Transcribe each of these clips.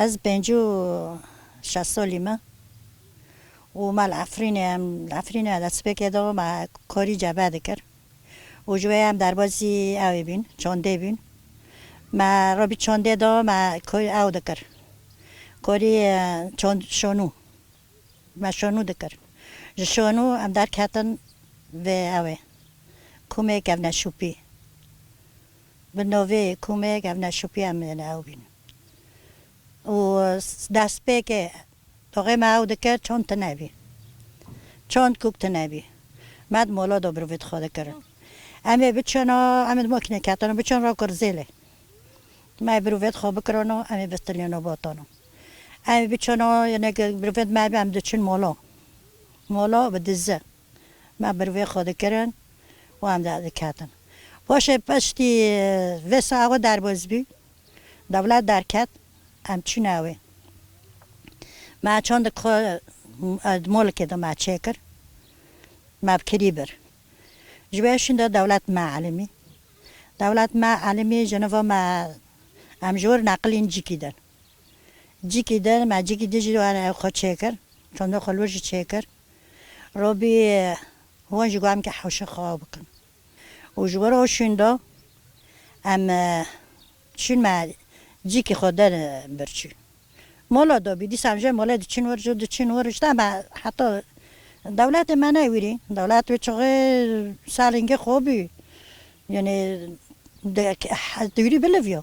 Ez pênc û şeş solî me û me li Efrînê em li Efrînê me destpêkê da me korî cebe dikir û ji wê ye em derbasî ewê bûn çandê bûn me robî çandê da me korî ew dikir korî çand şonû me şonû dikir ji şonû em derketin vê ewê komê kevneşûpî bi novê komê kevneşûpî em ê li ew bîn. û destpêkê toxê me ew dikir çond tune bî, çond kûk tune bî. Me di mola Dobrovê dixwe dikirin. Em ê biçin û em ê di makînê ketin û biçin ra Kurzêlê. Me birovê dixwe bikirin û em ê bistilîn û botin û em ê biçin û yê ne ke birovê di me bî em diçin mola, mola bi dizi. Me bir vê xwe dikirin û em derdiketin. Paşê piştî vê saxê derbas bû, dewlet derket, em çûne wê. Me çandek xwe di molikê de me çêkir, me bi kirî bir. Ji vê şûnde dewlet me elîmî. Dewlet me elîmî ji nava me em ji wir neqilîn cikî din. Cikî der me cikî dijî were ew xwe çêkir tondo xwe li wir jî çêkir robî hûn ji guhem ke hewşe xwe aw bikin û ji were o şûndo em çûn me cikî xwe der bir çû mola dobî dîsa em ji molê diçûn wir ji diçûn wir ji dema heta dewletê me ne wîrî dewlet wê çixê salingê xwe bû yanê di wîrî biliv yo.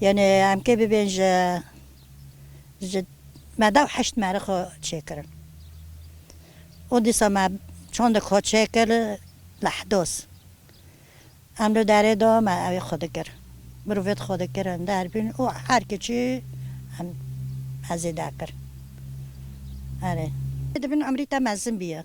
Yanî em kê bibên ji ji me dew heşt merê xwe çêkirin. Û dîsa me çandek xwe çêkir li Hdos. Em li derê de me evê xwe dikir. Mirovêt xwe dikirin derbîn û her kiçî em hezê derkir. Erê. Dibin emrî te mezin bîye.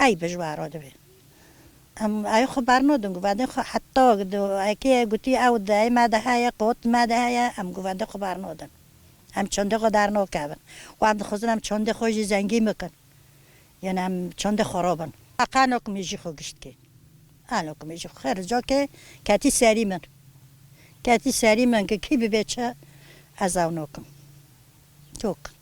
Ey bi ji we re dibe. Em ey xwe bernadin, guvendên xwe heta ekê gotî ew dayê me de heye, qat me de heye, em guvendên xwe bernadin. Em çandê xwe dernakevin û em dixwazin em çandê xwe jî zengîn bikin. Yanî em çandê xwe re bin. Qana ku mêjî xwe giştî, qana ku mêjî xwe xêr rica kir, ketî serî min. Ketî serî min ku kî bibe çi ez ew nakim. Tok.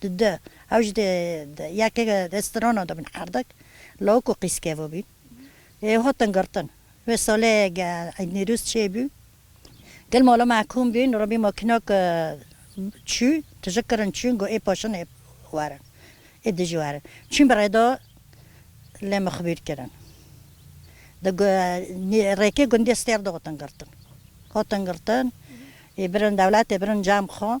Di du ew jî di yekê restorana de bûn qerdak, lawik û qîz kevibûn. Ê hatin girtin. Wê salê Eîd Nîrûz çêbû. Gel mala me kom bûn, re bî makinak çû, tije kirin çûn got ê paşin ê werin, ê dijî werin. Çûn bi rêda lê min xibûr kirin. Di rêkê gundê Stêr de hatin girtin. Hatin girtin, ê birin dewletê, birin cem xwe.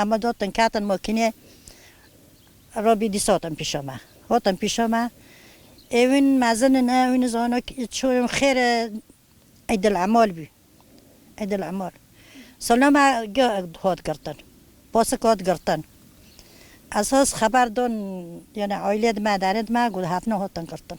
Em bi dotin ketin mokînê Robî dîsa hatin pîşa me. Hatin pîşa me ê wîn mezin in e wîn zana çûn xêr e Eydelemal bû. Eydelemal sala me hat girtin pasik hat girtin esas xeber dan yanî aîlê di me derê di me got hatina hatin girtin.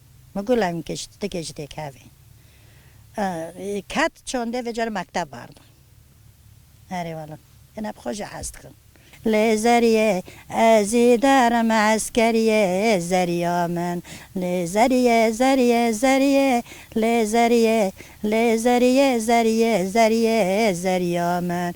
Min got lay min kê ji ti kê ji têk hevê. Ket çandê vê carê mekteb barda. Erê wele. Em hep xwe jî hez dikin. Lê Zeriyê ez î derim eskeriyê Zeriya min Lê Zeriyê Zeriyê Zeriyê Lê Zeriyê Lê Zeriyê Zeriyê Zeriyê Zeriya min.